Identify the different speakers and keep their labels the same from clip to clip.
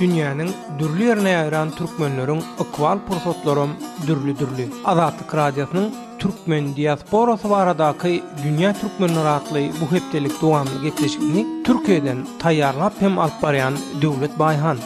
Speaker 1: Dünýäniň dürli ýerine ýaýran türkmenleriň ykbal pursatlaram dürli-dürli. Azatlyk Radiosynyň Türkmen diasporasy baradaky Dünýä türkmenleri atly bu hepdelik dowamly gepleşigini Türkiýeden taýýarlap hem alyp barýan Döwlet Baýhan.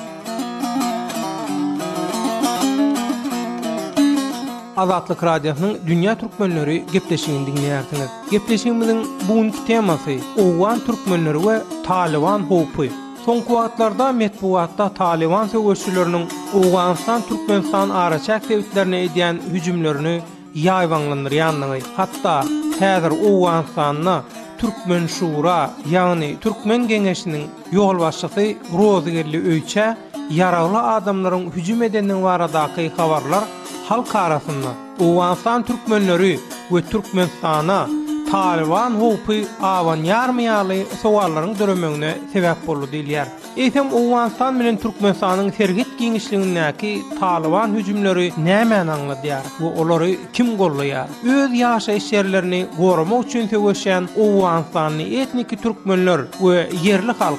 Speaker 1: Azatlyk Radiosynyň Dünýä türkmenleri gepleşigini diňleýärsiňiz. Gepleşigimiziň bu günki temasy, owgan türkmenleri we Talyban howpy. Soňky wagtlarda metbugatda Talyban söweşçileriniň Owganystan, Türkmenistan araçäk sebitlerine edýän hüjümlerini ýaýbaňlandyrýandygy, hatda häzir Owganystanda Türkmen şura, ýagny Türkmen geňeşiniň ýolbaşçysy Rozygeldi Öýçä ýaragly adamlaryň hüjüm edendigi baradaky habarlar halk arasynda, Owganystan türkmenleri we Türkmenistana Talyban howpy abanýarmy ýaly sowallaryň döremegine sebäp boldy diýilýär. Eýsem, Owganystan bilen Türkmenistanyň serhet giňişligindäki Talyban hüjümleri nämäni aňladýar we olary kim goldaýar? Öz ýaşaýyş ýerlerini goramak üçin söweşýän owganystanly etniki türkmenler we ýerli halk,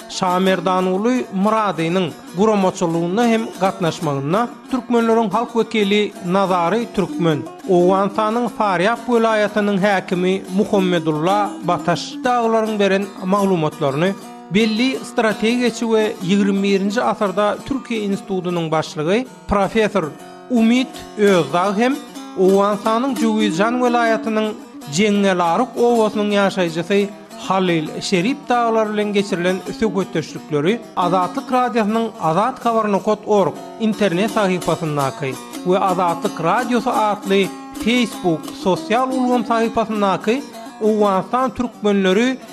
Speaker 1: Şamerdanguly Myradynyň guramaçylygynda hem gatnaşmagynda türkmenleriň halk wekili Nazary Türkmen, Owganystanyň Farýap welaýatynyň häkimi Muhammedulla Bataş dagylaryň beren maglumatlaryny belli strategiýaçy we ýigrimi birinji asyrda Türkiýe institutynyň başlygy Professor Umid Özdag hem Owganystanyň Jöwizjan welaýatynyň Jeňňelaruk obasynyň ýaşaýjysy Halil Şerip dagylar bilen geçirilen söhbetdeşlikleri Azatlyk Radiosynyň Azat Habar nokat org internet sahypasyndaky we Azatlyk Radiosy atly Facebook sosial ulgam sahypasyndaky Owganystan türkmenleri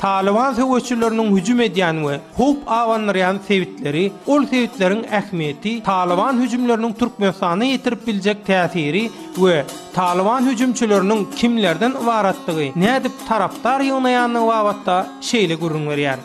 Speaker 1: Talyban söweşçileriniň hüjüm edýän we howp abandyrýan sebitleri, ol sebitleriň ähmiýeti, Talyban hüjümleriniň Türkmenistana ýetirip biljek täsiri we Talyban hüjümçileriniň kimlerden ybaratdygy, nädip tarapdar ýygnaýandygy babatda şeýle gürrüň berýär.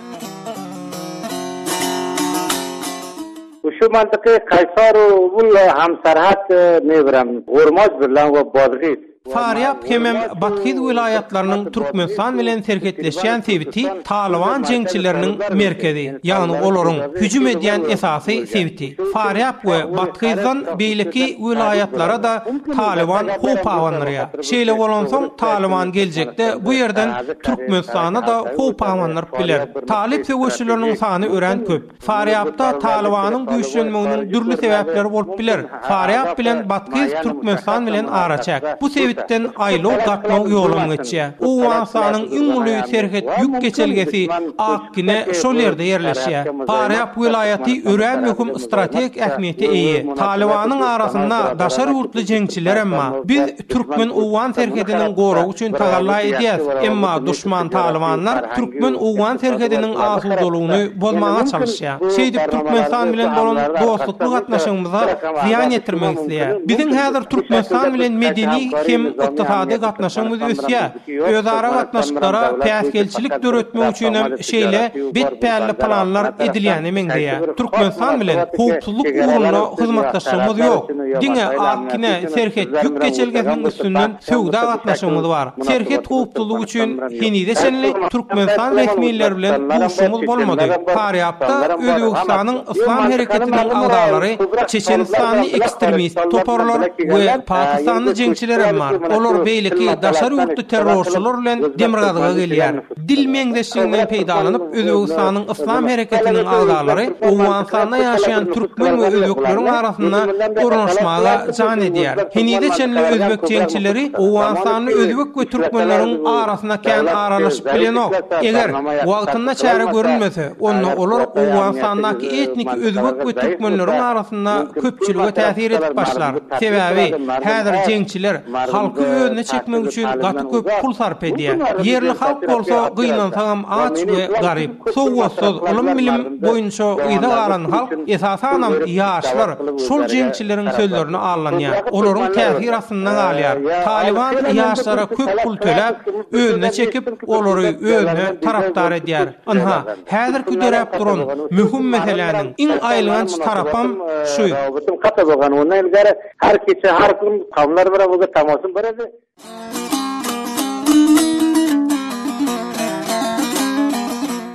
Speaker 2: Şu mantyky Kaýsaru, Ulla, Hamsarhat, Mewran, Hormozbirlan we Bodgis Farýap hemem
Speaker 1: Bathyz welaýatlarynyň Türkmenistan bilen serhetleşýän sebiti Talyban jeňçileriniň merkezi, ýagny olaryň hüjüm edýän esasy sebiti. Farýap we Bathyzdan beýleki welaýatlara-da Talyban howp abandyrýar. Şeýle bolansoň, Talyban geljekde bu ýerden Türkmenistana-da howp abandyryp biler. Talyp söweşileriniň sany örän köp. Farýapda Talybanyň güýçlenmeginiň dürli sebäpleri bolup biler. Farýap bilen Batkyz Türkmenistan bilen araçäk. Bu sebitden aýlaw gatnaw ýolam geçýär. Owganystanyň iň uly serhet ýük geçelgesi Akgine şol ýerde ýerleşýär. Farýap welaýaty örän möhüm strategik ähmiýete eýe. Talybanyň arasynda daşary ýurtly jeňçilerem bar. Biz Türkmen-owgan serhediniň goragy üçin tagalla edýäs, emma duşman talybanlar türkmen-owgan serhediniň asudalygyny bozmaga çalyşýar. Şeýdip Türkmenistan bilen bolan dostlukly gatnaşygymyza zyýan ýetirmek isleýär. Biziň häzir Türkmenistan bilen medeni hem ykdysady gatnaşygymyz ösýär. Özara gatnaşyklara päsgelçilik döretmek üçin hem şeýle betpälli planlar edilýäne meňzeýär. Türkmenistan bilen howpsuzlyk ugrunda hyzmatdaşlygymyz ýok. Diňe Akkine serhet ýük geçelgesiniň üstünden söwda gatnaşygymyz bar. Serhet howpsuzlygy üçin henize çenli Türkmenistan resmileri bilen duşuşygymyz bolmady. Farýapda Özbegistanyň Yslam Hereketiniň agzalary, çeçenistanly ekstremist toparlar we pakistanly jeňçilerem bar. Olar beýleki daşary ýurtly terrorçylar bilen demirgazyga gelýär. Dil meňzeşliginden peýdalanyp, Özbegistanyň Yslam Hereketiniň agzalary Owganystanda ýaşaýan türkmen we özbekleriň arasynda ornaşmaga jan edýär. Henize çenli özbek jeňçileri owganystanly özbek we türkmenleriň arasyna kän aralaşyp bilenok. Eger wagtynda çäre görülmese, Onda olar Owganystandaky etniki özbek we türkmenleriň arasynda köpçülige täsir edip başlar. Sebäbi, häzir jeňçiler halky özüne çekmek üçin gaty köp pul sarp edýär. Ýerli halk bolsa gynansagam aç we garyp. Sowgatsyz, ylym-bilim boýunça yza galan halk, esasanam ýaşlar şol jeňçileriň sözlerine allanýar. Olaryň täsir astynda galýar. Talyban ýaşlara köp pul töläp, özüne çekip, olary özüne tarapdar edýär. Ynha, häzirki döräp duran möhüm meseläniň iň aýylganç tarapam şu.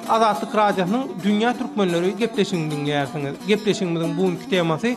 Speaker 1: Azatlyk Radiosynyň Dünýä Türkmenleri gepleşigini diňleýärsiňiz. Gepleşigimiziň bu günki temasy,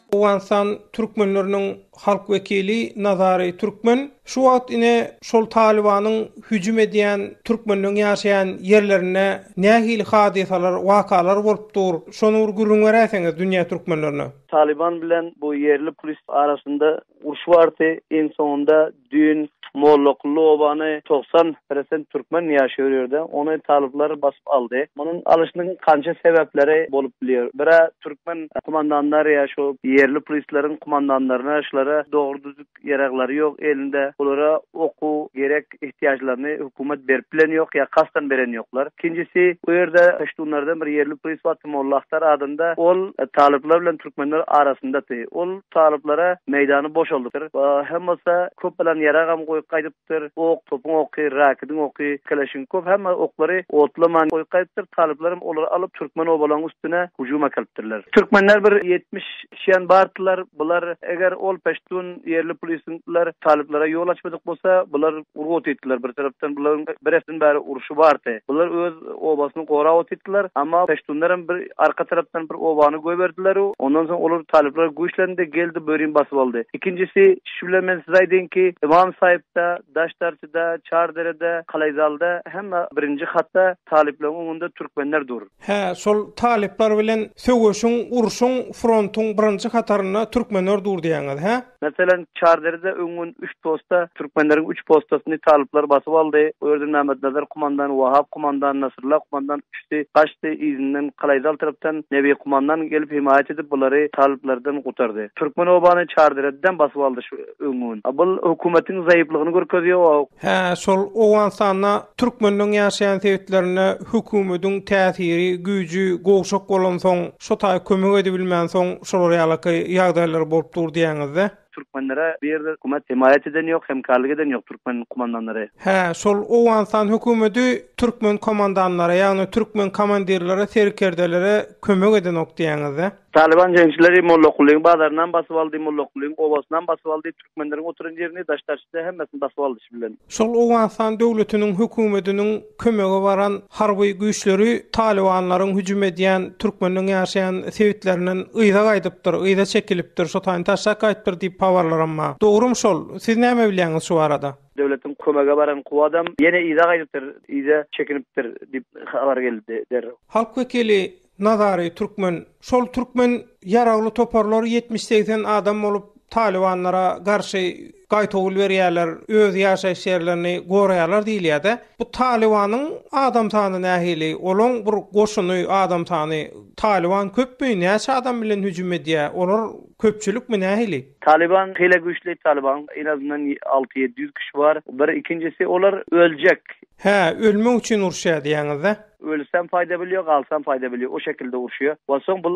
Speaker 1: Owganystan türkmenleriniň halk wekili Nazary Türkmen şu wagt ine şol Talybanyň hüjüm edýän türkmenleň ýaşaýan ýerlerinde nähili hadysalar, wakalar bolup dur, şony bir gürrüň beräýseňiz dünýä türkmenlerine. Talyban bilen
Speaker 3: bu ýerli pulist arasynda uruş bardy, iň soňunda, Düýn Mollakully obany togsan prosent türkmen ýaşaýar o ýerde. Ony talyplar basyp aldy. Munuň alyşynyň kança sebäpleri bolup bilýär. Bir-ä türkmen kumandanlary ýa şu ýerli prislaryň kumandanlaryna şulara dogry-düzüp ýaraglary ýok elinde. Bulara okuw gerek ihtiýajlaryny hökümet berip bilen ýok ýa kasdan beren ýoklar. Ikinjisi o ýerde puştunlardan bir ýerli pris bar Molla Ahtar adynda. Ol talyplar bilen türkmenler arasyndaty. Ol. Talyplara meýdany boşaldypdyr. Hem bolsa köp alan ýaragam goýup gaýdypdyr. Ok, topuň oky, rakidiň oky, keleşiň köp hemme oklary otlaman goýup gaýdypdyr. Talyplaram olary alyp türkmen obalaň üstüne hüjüm äkelipdirler. Türkmenler bir ýetmiş kişiýan bardylar. Bular eger ol peştun ýerli pul isintliler talyplara ýol açmadyk bolsa bular urgy otýydylar bir tarapdan bularyň bir hepden bäri urşy bardy. Bular öz obasyny gorap otyrdylar. Emma peştunlar hem bir arka tarapdan bir obany goýberdiler. Ondan soň olar talyplara güýçlendi, geldi bu ýerini basyp aldy. Ikinjisi, şu bilen men size aýdaýyn ki, Ymam Saýypda, Daşdarçyda, Çarderede, Kalaýzalda hemme birinji hatda talyplaryň öňünde türkmenler dur. Hä, şol
Speaker 1: talyplar bilen söweşiň, urşuň, frontuň birinji hatarynda türkmenler dur diýýäňiz, hä? Meselem, Çarderde
Speaker 3: öň gün üç posta türkmenleriň üç postasyny talyplar basyp aldy. Bu ýerden Mämmetnazar kumandan, Wahap kumandan, Nasrylla kumandan üçüsi gaçdy, yzyndan Kalaýzal tarapdan Nebi kumandan gelip hemaýat edip bulary talyplardan gutardy. Türkmen obany Çarderedem basyp aldy şu öň gün. A bul hökümetiň zaýyplygyny görkezýär. Hä, şol
Speaker 1: Owganystanda türkmenleň ýaşaýan sebitlerinde hökümetiň täsiri, güýji gowşak bolansoň, Şo taý kömek edibilmänsoň şolar ýalaky ýagdaýlar bolup dur diýýäňizde. Türkmenlere bu ýerde
Speaker 3: hökümet hemaýat eden ýok, hemkarlyk eden ýok türkmen kumandanlary. Hä, şol
Speaker 1: Owganystan hökümeti türkmen komandanlara, ýagny türkmen komandirlere, serkerdelere kömek edenok diýýäňizde. Talyban jeňçileri
Speaker 3: Mollakulyň bazarynam basyp aldy, Mollakulyň obasynam basyp aldy. türkmenleriň oturan ýerini daş-daşyna hemmesini basyp aldy şi bilen. Şol Owganystan
Speaker 1: döwletiniň hökümetiniň kömege baran harby güýçleri talybanlaryň hüjüm edýän türkmenleň ýaşaýan sebitlerinden yza gaýdypdyr, yza çekilipdir, şo taýyn taşlap gaýypdyr diýip habarlaram ba. Dogrum şol? Siz näme bilýäňiz şu barada? Döwletiň kömege
Speaker 3: baran kuwadam ýene yza gaýdypdyr, yza çekinipdir diýip habar geldi derrew. Halk wekili,
Speaker 1: Nazary türkmen. Şol türkmen ýaragly toparlar ýetmiş-segsen adam bolup talybanlara garşy gaýtawul berýärler, öz ýaşaýyş ýerlerini goraýarlar diýilýär-de. Bu talybanyň adam sany nähili? Olaň bir goşuny, adam sany? Talyban köpmi? Näçe adam bilen hüjüm edýär? Olar köpçülikmi, nähili? Talyban hile
Speaker 3: güýçli. Talyban en azyndan alty-ýedi ýüz kişi bar. Bir ikinjisi olar öljek. Hä, ölmek
Speaker 1: üçin uruşýar diýýäňiz-dä? Ölsem faýda
Speaker 3: bilýo, galsam faýda bilýo, o şekilde urşýa. Onsoň bul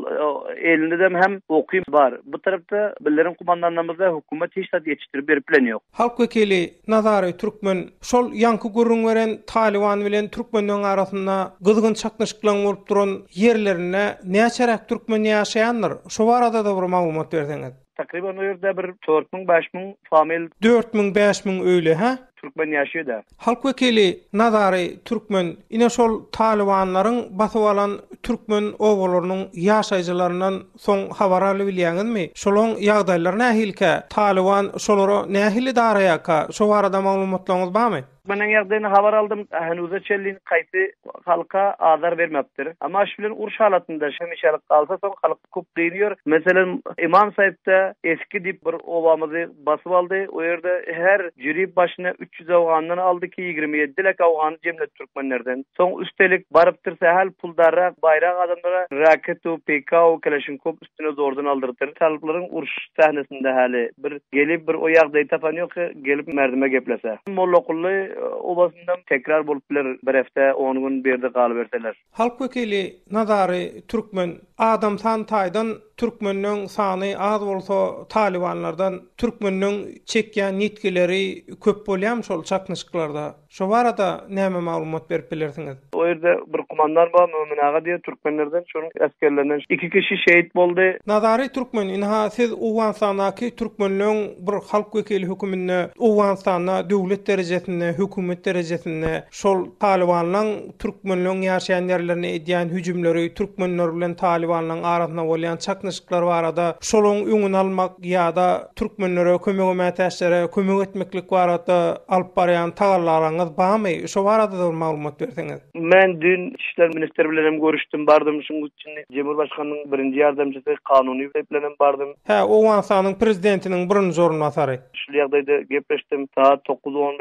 Speaker 3: elindedem hem oky bar. Bu tarapda bilerin kumandanlarymyzda hökümet hiç zat ýetişdirip berip bilen ýok. Halk wekili
Speaker 1: Nazary Türkmen şol ýaňky gürrüň beren Talyban bilen türkmenleň arasynda gyzgyn çaknyşyklaň bolup duran ýerlerinde näçeräk türkmen ýaşaýandyr? Şo barada-da bir maglumat berseňiz. Takryban
Speaker 3: o ýerde bir dört müň, bäş müň famil. Dört müň, bäş müň
Speaker 1: öýli, hä? Türkmen ýaşaýda.
Speaker 3: Halk wekili
Speaker 1: Nazary türkmen, ine şol talybanlaryň basyp alan türkmen obalarynyň ýaşaýjylaryndan soň habar alybilýäňizmi? Şolaň ýagdaýlary nähilikä? Talyban şolara nähili daraýarka? Şo barada maglumatlaryňyz barmy? Türkmeniň ýagdaýyny habar
Speaker 3: aldym. Henuza çenli haýsy halka azar bermepdir. Amaş bilen uruş halatynda hemişelik galsa soň halk kop gyn ýör. Meselem Imam Saipde Eski dip bir obamyzy basyp aldy. O ýerde her jüri başyna üç ýüz awgandan aldy ki ýigrimi ýedi lek awgany jemledi türkmenlerden. Soň üstelik barypdyr sähel puldarrak baýrak adamlara Raketw, Peýkaw, Keleşinkop üstüne zordan aldyrypdyr. Talyplaryň uruş sähnesinde häli bir gelip bir o ýagdaýy tapan ýok ki, gelip merdime geplese. Mollakully obasynda tekrar bolup biler, bir hepde, on gün bu ýerde galyberseler. Halk wekili
Speaker 1: Nazary türkmen, adam san taýdan türkmeniň sany az bolsa talybanlardan türkmeniň çekýän ýitgileri köp bolýamy şol çaknyşyklarda? Şo barada näme maglumat berip bilersiňiz? O ýerde bir
Speaker 3: kumandan bar, Mömin aga diýen türkmenlerden, şonuň esgerlerinden iki kişi şehit boldy. Nazary türkmen,
Speaker 1: ynha siz Owganystandaky türkmenleň bir halk wekili höküminde Owganystanda döwlet derejesinde, hökümet derejesinde şol talybanlaň türkmenleň ýaşaýan ýerlerine edýän hüjümleri, türkmenler bilen talybanlaň arasynda bolýan çaknyşyklar barada şolaň öňüni almak ýa-da Türkmenlere, kömege mätäçlere kömek etmeklik barada alyp barýan tagallalaryňyz barmy? Şo barada da bir maglumat berseňiz. Men düýn Içki
Speaker 3: işler ministri bilen hem görüşdim, bardym, şuň üçin Jemurbaşganynyň birinji ýardamçysy, kanuny wezipem bilen hem bardym. Hä, Owganystanyň
Speaker 1: prezidentiniň birinji orunbasary. Şul ýagdaýda
Speaker 3: gepleşdim. Sagat dokuz on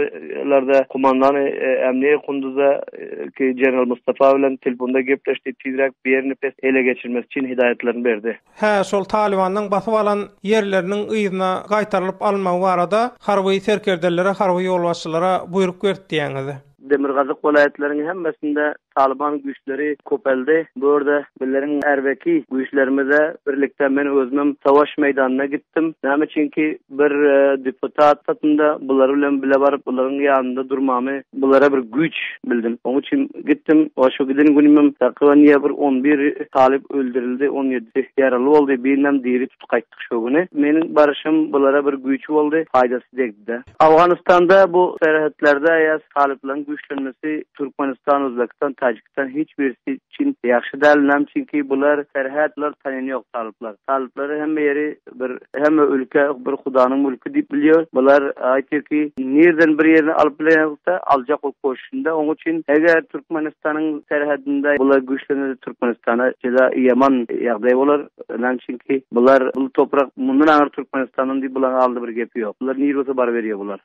Speaker 3: larda kumandany Ämniýe Kunduza ki, general Mustafa bilen telefonda gepleşdi, tizräk Biernepes ele geçirmesi üçin hidaýatlaryny berdi. Hä, şol Talybandan
Speaker 1: basyp alan ýerleriniň yzyna gaýtarylyp alynmagy barada harby serkerdelere, harby ýolbaşçylara buýruk berdi diýýäňiz. Demirgazyk welaýatlaryň
Speaker 3: hemmesinde Talyban güýçleri köpeldi. Bu ýerde bizleriň erbeki güýçlerimize birlikde men özümem savaş meýdanyna gitdim. Näme üçinki, Bir deputat satynda bular bilen bile baryp, bularyň ýanynda durmamy, bulara bir güýç bildim. Oň üçin gitdim. Wa şo giden günümem takyban ýa bir on bir talyp öldürildi, on ýedisi ýaraly boldy, birinem diri tutup gaýtdyk şo güni. Meniň baryşym bulara bir güýç boldy, paýdasy degdi-de. Awganystanda bu serhetlerde ýa talyplaryň güýçlenmesi Türkmenistan, Özbegistan, Täjikistan. Sen hiç birisi üçin ýagşy däl näme üçin ki bular serhet bular tanini ýok talyplar talyplary hemme ýeri bir hemme ülke bir hudanyň mülki diýip bilýär bular aýtýar ki nirden bir ýerini alyp bilenokda aljak bolup goşunda oň üçin eger türkmenistanyň serhedinde bular güýçlenede türkmenistana jeda ýaman ýagdaý bolar näme üçin ki bular bu toprak mundan aňyr türkmenistandan diýip bulaň aldy bir gepi ýok bular nir bolsa baryberýär bular.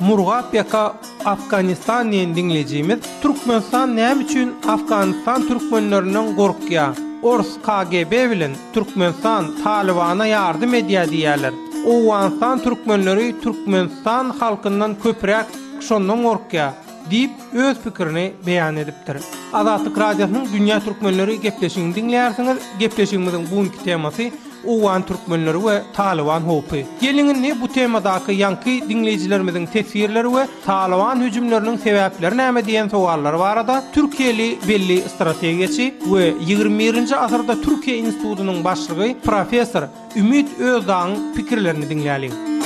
Speaker 1: Murgap ýaka Afganistan diýen diňlejimiz Türkmenistan näme üçin Afganistan türkmenlerinden gorkýa? Ors KGB bilen Türkmenistan Talybana ýardym edýä diýýäler. Owganystan türkmenleri Türkmenistan halkyndan köpräk şondan gorkýa diýip öz pikirini beýan edipdir. Azatlyk Radiosynyň Dünýä Türkmenleri gepleşigini diňleýärsiňiz. Gepleşigimiziň bu günki temasy Owgan türkmenleri we Talyban howpy. Geliň indi bu temadaky ýaňky diňleýjilerimiziň teswirleri we Talyban hüjümleriniň sebäpleri näme diýen sowallary barada türkiýeli belli strategiýaçy we ýigrimi birinji asyrda Türkiýe institutynyň başlygy professor Ümit Özdagyň pikirlerini diňläliň.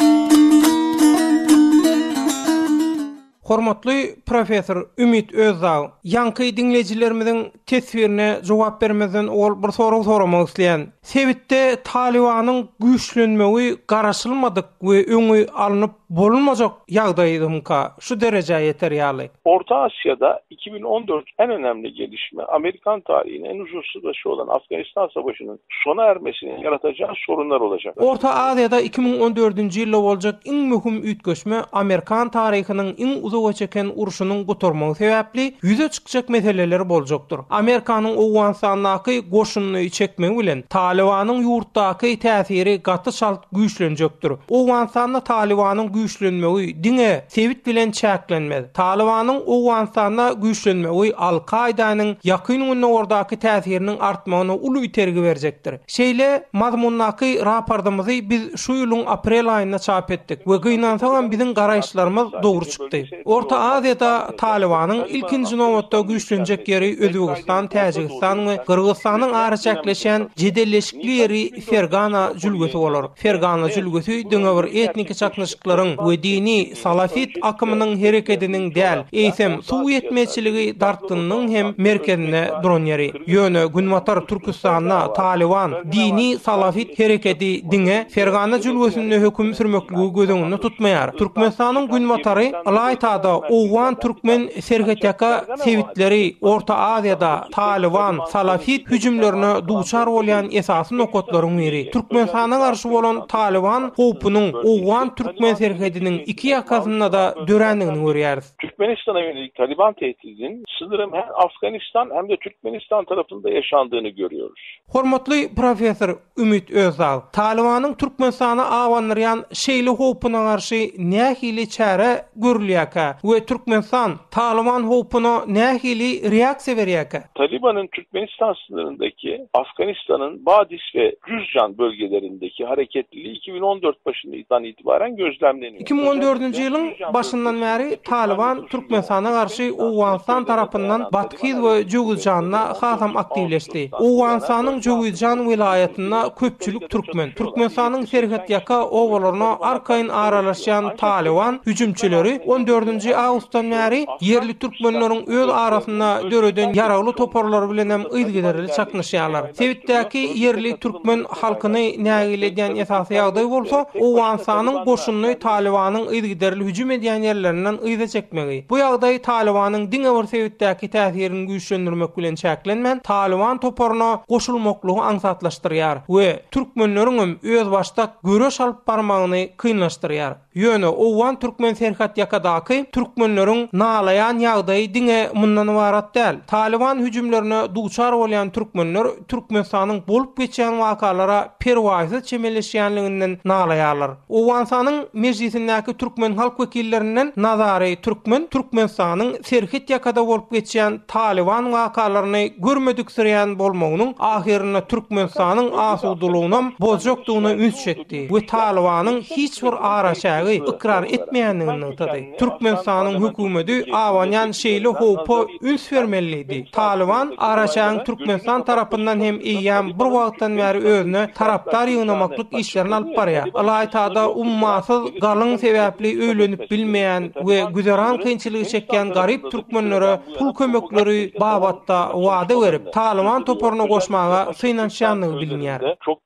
Speaker 1: Hormatly professor Ümit Özdag, ýaňky diňleýjilerimiziň teswirine jogap bermezden owal bir sorag soramak isleýän. Sebitde Talybanyň güýçlenmegi garaşylmadyk we öňi alnyp bolunmajak ýagdaýdymyka şu derejä ýeter ýaly? Orta Asiýada
Speaker 4: Iki bin on dört Än önemli gelişme, amerikan taryhyny iň uzyn çyzyşy bolan Afganistan söweşiniň sona ermesi ýaratajagy sorunlar bolajak. Orta Aziýada iki
Speaker 1: müň on dördünji ýylda boljak iň möhüm üýtgeşme amerikan taryhynyň iň uzaga çeken urşunyň gutarmagy sebäpli ýüze çykjak meseleler boljakdyr. Amerikanyň Owganystandaky goşunyny çekmegi bilen Talybanyň ýurtdaky täsiri gaty çalt güýçlenjekdir. Owganystanda Talybanyň güýçlenmegi diňe. sebit bilen çäklenmez. Talybanyň Owganystanda güýçlenmegi Al-Kaýdanyň Ýakyn Gündogardaky täsiriniň artmagyna uly itergi berjekdir. Şeýle mazmundaky rapordymyzy biz şu ýylyň aprel aýynda çap etdik we gynansagam biziň garaýyşlarymyz dogry çykdy. Orta Aziýada Talybanyň ilkinji nobatda güýçlenjek ýeri Özbegistan, Täjigistan we Gyrgyzystanyň araçäkleşýän jedelleşikli ýeri Fergana jülgesi bolar. Fergana jülgesi diňe bir etniki çaknyşyklaryň we dini salafit akymynyň herekediniň däl, eýsem, suw ýetmezçiligi dartgynynyň hem merkezinde duran ýeri. Ýöne Günbatar Türküstanda Talyban dini salafit herekedi diňe Fergana jülgesinde höküm sürmekligi göz öňünde tutmaýar. Türkmenistanyň günbatary ylaýta-da owgan-türkmen Serhetýaka sebitleri Orta Aziýada Talyban, salafit hüjümlerine duçar bolýan esasy nokatlaryň biri. Türkmenistana garşy bolan Talyban howpunyň owgan-türkmen serhediniň iki ýakasynda-da dörändigini görýäris. Türkmenistana ýönelik
Speaker 4: Talyban tehdidiniň şydyryň hem Afganistan hem-de Türkmenistan tarapynda ýaşandygyny görýäris. Hormatly
Speaker 1: professor, Ümit Özdag, Talybanyň Türkmenistany abandyrýan şeýle howpuna garşy nähili çäre görülýärkä we Türkmenistan Talyban howpuna nähili reaksiýa berýärkä? Talybanyň Türkmenistan
Speaker 4: synyryndaky Afganistanyň Badis we Juzjan bölgelerindäki hareketliligi iki müň on dört başyndan Iki müň on dördünji ýylyň
Speaker 1: başyndan bäri Talyban Türkmenistana garşy Owganystan tarapyndan Bathyz we Jöwizjanda hasam aktiwleşdi. Owganystanyň Jöwizjan welaýatynda köpçülik türkmen. Türkmenistanyň serhetýaka obalaryna arkaýyn aralaşýan Talyban hüjümçileri on dördünji awgustdan bäri ýerli türkmenleriň öz arasynda döreden ýaragly toparlary bilen hem yzygiderli çaknyşýarlar. Sebitdäki ýerli türkmen halkyny nägile edýän esasy ýagdaý bolsa, Owganystanyň goşunyny Talybanyň yzygiderli hüjüm edýän ýerlerinden yza çekmegi. Bu ýagdaý Talybanyň diňe bir sebitdäki täsirini güýçlendirmek bilen çäklenmän, Talyban toparyna goşulmaklygy aňsatlaşdyrýar we türkmenleriňem özbaşdak göreş alyp barmagyny kynlaşdyrýar. Ýöne owgan-türkmen serhetýakadaky türkmenleriň nalaýan ýagdaýy diňe mundan ybarat däl. Talyban hüjümlerine duçar bolýan türkmenler Türkmenistanyň bolup geçýän wakalara perwaýsyz çemeleşýänliginden nalaýarlar. Owganystanyň Mejlisindäki türkmen halk wekillerinden Nazary Türkmen Türkmenistanyň serhetýakada bolup geçýän Talyban wakalaryny görmediksirýän bolmagynyň ahyrynda Türkmenistanyň asudalygynam bozjakdygyna üns çekdi. etdi we Talybanyň hiç bir araçägi ykrar etmeýändigini nygtady. Türkmenistanyň hökümeti abanýan şeýle howpa üns bermeli diýdi. Talyban araçägiň Türkmenistan tarapyndan hem eýýäm bir wagtdan bäri özüne tarapdar ýygnamaklyk işlerini alyp barýar. Ylaýta-da ummasyz galyň sebäpli öýlenip bilmeýän we güzeran kynçylygy çekýän garyp türkmenlere pul kömekleri babatda wada berip, Talyban toparyna goşmaga synanyşýandygy bilinýär.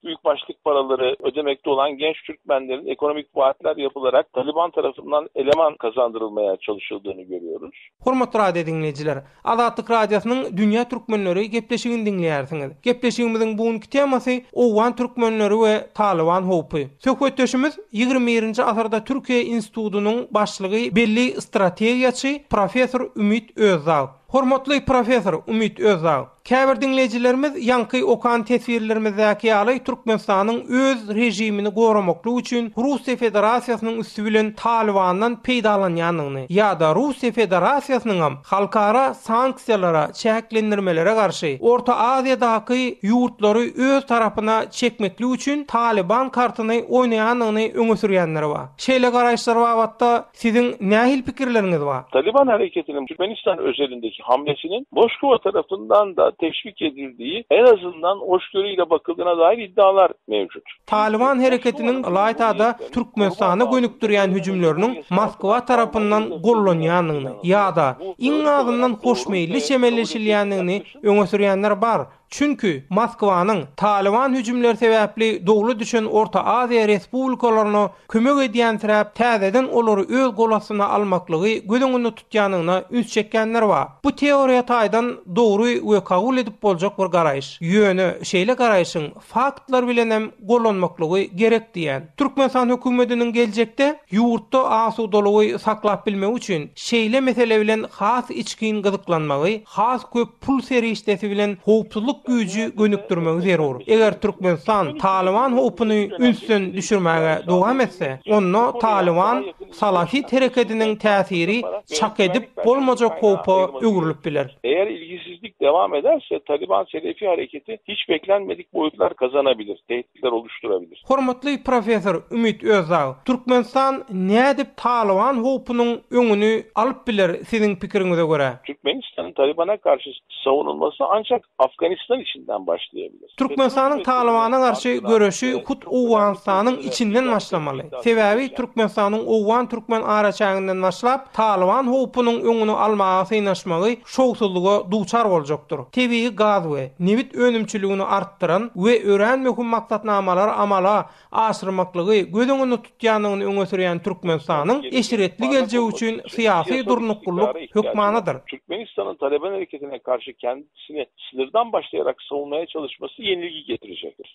Speaker 1: Büyük başlyk
Speaker 4: paralary ödemekde olan genç Türkmenlerin ekonomik vaatler yapılarak Taliban tarafından eleman kazandırılmaya çalışıldığını görüyoruz. Hormatly radio
Speaker 1: diňleýjiler! Azatlyk Radiosynyň Dünýä Türkmenleri gepleşigini diňleýärsiňiz. Gepleşigimiziň bu günki temasy Owgan türkmenleri we Talyban howpy. Söhbetdeşimiz ýigrimi birinji asyrda Türkiýe institutynyň başlygy belli strategiýaçy, professor Ümit Özdag. Hormatly professor Ümit Özdag! Käbir diňleýjilerimiz ýaňky okan teswirlerimizdäki ýaly Türkmenistanyň öz režimini goramaklyk üçin Russiýa Federasiýasynyň üsti bilen Talybandan peýdalanýandygyny ýa-da Russiýa Federasiýasynyňam halkara sanksiýalara, çäklendirmelere garşy Orta Aziýadaky ýurtlary öz tarapyna çekmeklik üçin Talyban kartyny oýnaýandygyny öňe sürýänleri bar. Şeýle garaýyşlar babatda Siziň nähili pikirleriňiz bar? Talyban hereketiniň
Speaker 4: Türkmenistan özelindeki hamlesiniň Moskwa tarafyndan-da teşwik edildiği, en azyndan goşgöri ile bakyldığına dair iddialar mevcut. Talyban hereketiniň
Speaker 1: ylaýta-da Türkmenistana gönükdirýän hüjümleriniň Moskwa tarapyndan gollanýandygyny ýa-da, iň azyndan hoşmeýilli çemeleşilýändigini öňe sürýänler bar. Çünki, Moskwanyň, Talyban hüjümleri sebäpli dowla düşen Orta Aziýa respublikalaryna kömek edýänsiräp, täzeden olary öz gol astyna almaklygy göz öňünde tutýandygyna üns çekýänler bar. Bu teoriýa taýdan dogry we kabul edip boljak bir garaýyş. Ýöne, şeýle garaýşyň faktlar bilenem gollanmaklygy gerek diýýän. Türkmenistan hökümetiniň geljekde ýurtda asudalygy saklap bilmegi üçin şeýle mesele bilen has içgin gyzyklanmagy, has köp pul serişdesi bilen howpsuzlyk güýji gönükdirmegi zerur. Eger Türkmenistan Talyban howpuny ünsden düşürmäge dowam etse, onda Talyban salafit hereketiniň täsiri çak edip bolmajak howpa öwrülip biler. Eger ilgisizlik
Speaker 4: dowam ederse, Talyban-Selefi hereketi hiç beklenmedik boýutlar gazanabilir. zerur düşdüre bilir. Hormatly professor
Speaker 1: Ümit Özdag, Türkmenistan nädip Talyban howpunyň öňüni alyp biler siziň pikiriňize görä? Türkmenistanyň Talybana
Speaker 4: garşy sowunylmasy ançak Afganistan içinden başlaýa biler. Türkmenistanyň Talybana
Speaker 1: garşy göreşi hut Owganystanyň içinden başlamaly. Sebäbi Türkmenistanyň owgan-türkmen araçäginden başlap Talyban howpunyň öňüni almaga synaşmagy şowsuzlyga duçar boljakdyr. Tebigy gaz we nebit önümçiligini artdyran we örän möhüm maksatnamalary amala aşyrmaklygy göz öňünde tutýandygyny öňe sürýän Türkmenistanyň eşretli geljegi üçin syýasy durnuklylyk hökmanydyr. Türkmenistanyň Taleban
Speaker 4: hereketine garşy kendisini sınırdan başlayarak savunmaya çalışması yenilgi getirjekdir.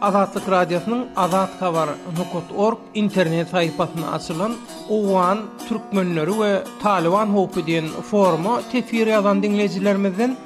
Speaker 1: Azatlyk Radiosynyň Azathabar. Org internet saýhpasynda açylan Owgan türkmenleri we Talyban howpy diýen foruma teswir ýazan diňleýjilerimizden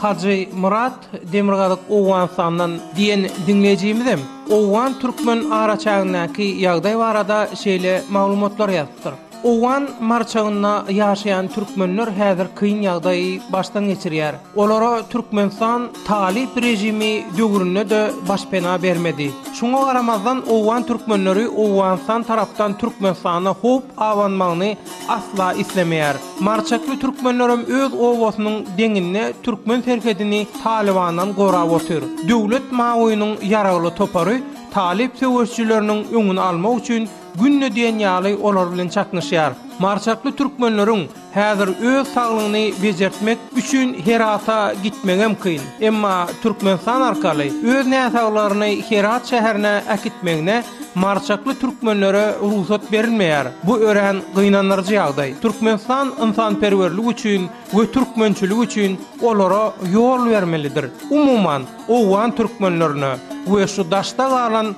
Speaker 1: Hajy Myrat Demirgazyk Owganystandan diýen diňleýjimizem Owgan-türkmen araçägindäki ýagdaý barada şeýle maglumatlar ýazypdyr. Owgan marçagynda ýaşaýan türkmenler häzir kyn ýagdaýy başdan geçirýär. Olara Türkmenistan talyp režimi döwründe-de başpena bermedi. Şuňa garamazdan, owgan türkmenleri Owganystan tarapdan Türkmenistana howp abanmagyny asla islemeýär. Marçakly türkmenlerem öz obasynyň deňinde türkmen serhedini Talybandan gorap otyr. Döwlet mawynyň ýaragly topary talyp söweşijileriniň öňüni almak üçin Günde diýen ýaly olar bilen çaknyşýar. Maryçakly türkmenleriň häzir öz saglygyny bejertmek üçin Herata gitmegem kyn. Emma Türkmenistan arkaly öz näsaglaryny Herat şäherine äkitmegine maryçakly türkmenlere rugsat berilmeýär. Bu örän gynandyryjy ýagdaý. Türkmenistan ynsanperwerlik üçin we türkmençilik üçin olara ýol bermelidir. Umuman, owgan türkmenlerine we şu daşda galan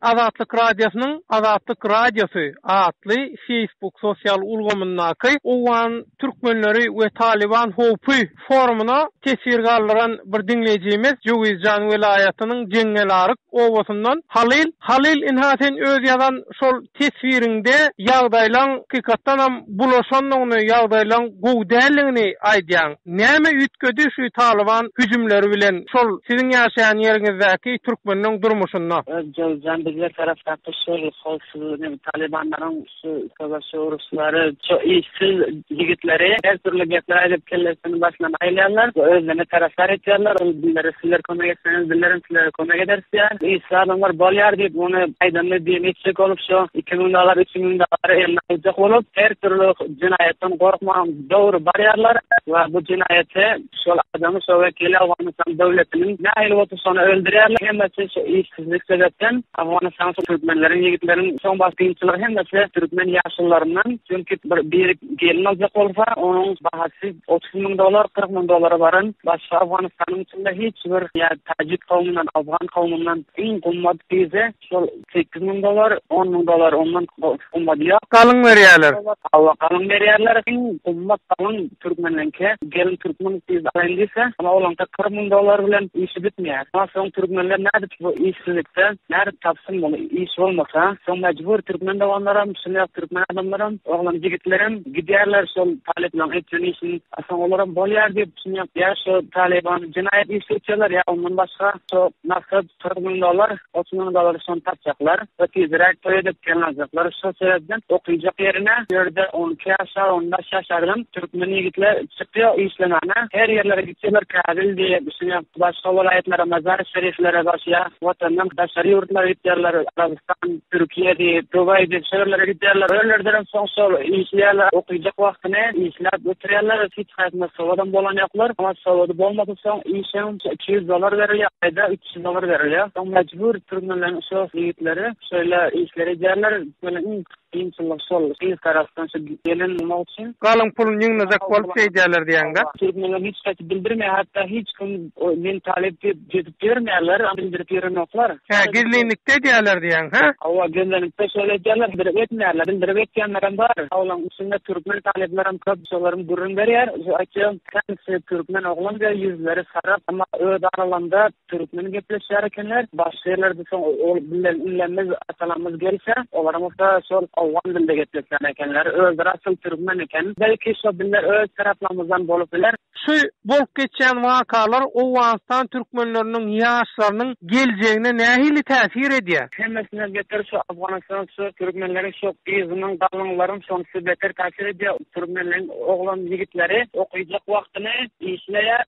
Speaker 1: Azatlyk Radiosynyň Azatlyk Radiosy atly Facebook sosial ulgamyndaky Owgan türkmenleri we Talyban howpy forumyna teswir galdyran bir diňleýjimiz Jöwizjan welaýatynyň Jeňňelaryk obasyndan Halyl Halyl ynha sen öz ýazan şol teswiriňde ýagdaýlaň hakykatdanam bulaşandygyny ýagdaýlaň gowy däldigini aýdýaň. Näme üýtgedi şu Talyban hüjümleri bilen şol siziň ýaşaýan ýeriňizdäki türkmeniň durmuşynda? Özbegjan bize
Speaker 2: tarapdaky şol howpsuzlygyny Talybanlaryň şu söweş uruşlary şu işsiz ýigitleri her dürli gepler aýdyp kellesini başyndan aýylýarlar we özlerine tarapdar etýärler ol bizlere sizler kömek etseňiz bizlerem sizlere kömek ederis diýýär işsiz adamlar bolýar diýip ony aýdanda diýen etjek olup şu iki müň dollar üç müň dollary eline aljak bolup her dürli jenaýatdan gorkman Dogry barýarlar we bu jenaýaty şol adamy şo wekili Owganystan döwletiniň nähili bolsa şony öldürýärler hemmesi şu işsizlik sebäpden Owganystan türkmenleriň ýigitleriň soň baş kynçylygy hemmesi türkmen ýaşullaryndan çünki bir biri gelin aljak bolsa onuň bahasy otuz müň dollar kyrk müň dollara baran başga Owganystanyň içinde hiç bir ýa tajik kowmyndan Owgan kowmyndan iň gymmat gyzy Şol sekiz müň dollar, on müň dollar ondan gymmat ýok. Galyň berýärler.
Speaker 1: Hawa, galyň
Speaker 2: berýärler. Iň gymmat galyň türkmenleňki. Gelin türkmen gyz alaýyn diýse, ol olaňka kyrk müň dollar bilen işi bitmeýär. Ondan soň türkmenler nädip bu işsizlikde, nädip tapsyn bol, iş bolmasa? Soň mejbur türkmen doganlaram, şuny ýa türkmen adamlaram, oglan ýigitlerem gidýärler şol talyplaň etýän işini. A soň olaram bolýar diýip, şuny ýap, ýa şu talyban jenaýat işi etýärler, ýa ondan başga, şo nasip. Turgundolar otunyň dalaryşan tapjaklar we tizräk toý edip gelin aljaklar. Şol sebäpden okyjak ýerine ýörde on iki ýaşar, on bäş ýaşardan türkmen ýigitler çykýar işlemäne. Her ýerlere gitseler käbel diýýär, düşünýär. Başga welaýatlara, mazar-y şeriflere barşýar. Watandan daşary ýurtlara gitýärler. Arabystan, Türkiýe diýip, Dubaý diýip şo ýerlere gidýärler. Ölerlerem soň şol işleýärler. Okyjak wagtyny işläp ötürýärler. Hiç haýsyna sowadam bolan ýoklar. Sowady bolmasa soň işiň. Iki ýüz dollar berilýär, aýda üç ýüz dollar berilýär. Soň mejbur türmelenen şu ýigitleri şeýle işleri edýärler. Türmede iň kynçylygy şol, gyz tarapdan şu gelin bulmak üçin. Galyň puluny ýygnajak
Speaker 1: bolup şeý edýärler diýeňdä. Türmelere hiç haýsy
Speaker 2: bildirmeýär, hatda hiç kim men talyp diýip gezip ýörmeýärler, bildirip ýörenoklar. Hä, gizlinlikde
Speaker 1: edýärler diýeň, hä? Hawa, gizlinlikde
Speaker 2: şeýle edýärler, bildirip etmeýärler. Bildirip etýänlerem bar. Awlaryň içinde türkmen talyplaram köp, şolaram gürrüň berýär. Şu aýtýan Käbisi türkmen oglan we ýüzleri sara, emma öz aralarynda türkmen gepleşýär ekenler. Başga ýerlerde soň ol bilen inemiz, atalarymyz gelse, olaryň bolsa şol owgan dilinde gepleşýän ekenler. Özleri asyl türkmen eken. Belki şo diller öz taraplarymyzdan bolup biler. Şu bolup
Speaker 1: geçýän wakalar Owganystan türkmenleriniň ýaşlarynyň geljegine nähili täsir edýär? Hemmesinden beter şu
Speaker 2: Afganystan şu türkmenleriň şu gyzynyň, galynyň laryň şonsy beter täsir edýär. Türkmeniň oglan ýigitleri okyjylyk
Speaker 1: wagtyny işleýär.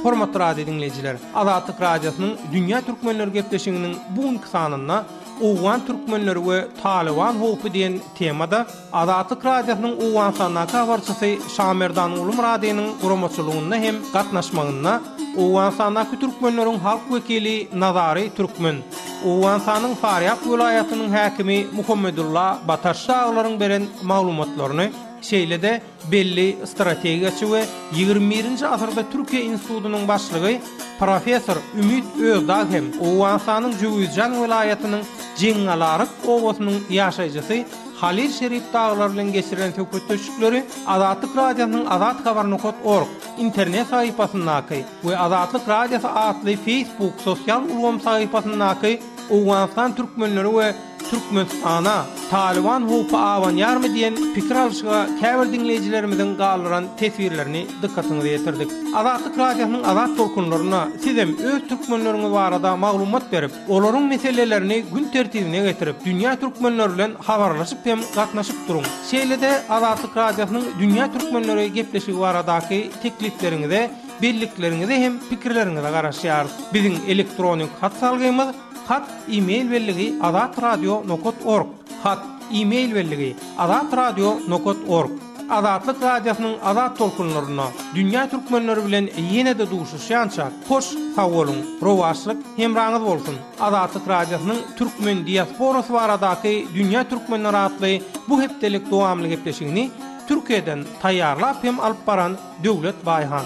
Speaker 1: Hormatly radio diňleýjiler, Azatlyk Radiosynyň Dünýä türkmenleri gepleşiginiň bu günki sanynda Owgan türkmenleri we Talyban howpy diýen temada Azatlyk Radiosynyň Owganystandaky habarçysy Şamerdan Gulumyradynyň guramaçylygynda hem gatnaşmagynda Owganystandaky türkmenleriň halk wekili Nazary Türkmen Owganystanyň Farýab welaýatynyň häkimi Muhammedulla Bataş daglaryň beren maglumatlaryny, şeýle-de belli strategiýaçy we ýigrimi birinji asyrda Türkiýe institutynyň başlygy professor Ümit Özdag hem Owganystanyň Jöwüzjan welaýatynyň Jeňňalaryk obasynyň ýaşaýjysy Halil Şerif daglar bilen geçiren söhbetdeşlikleri Azatlyk Radiosynyň Azat Habar. Org. internet sahypasyndaky we Azatlyk Radiosy atly Facebook sosial ulgam sahypasyndaky Owganystan türkmenleri we Türkmenistana Talyban howpy abanýarmy diýen pikir alşyga käbir diňleýjilerimiziň galdyran teswirlerini dykgatyňyza ýetirdik. Azatlyk Radiosynyň Azat tolkunlarynda sizem öz türkmenleriňiz barada maglumat berip, Olaryň meselelerini gün tertibine getirip, dünýä türkmenleri bilen habarlaşyp hem gatnaşyp duruň. Şeýle-de Azatlyk Radiosynyň Dünýä türkmenleri gepleşigi baradaky teklipleriňize, bellikleriňize hem pikirleriňize garaşýarys. Biziň elektronik hat salgymyz, Hat, e-mail belligi, Azat Radio nokat org. Hat, e-mail belligi, Azat Radio nokat org. Azatlyk Radiosynyň Azat tolkunlarynda dünýä türkmenleri bilen ýene-de duşuşýança hoş sag boluň, rowaçlyk hemraňyz bolsun! Azatlyk Radiosynyň Türkmen diasporasy baradaky dünýä türkmenleri atly bu hepdelik dowamly gepleşigini Türkiýeden taýýarlap hem alyp baran Döwlet Baýhan.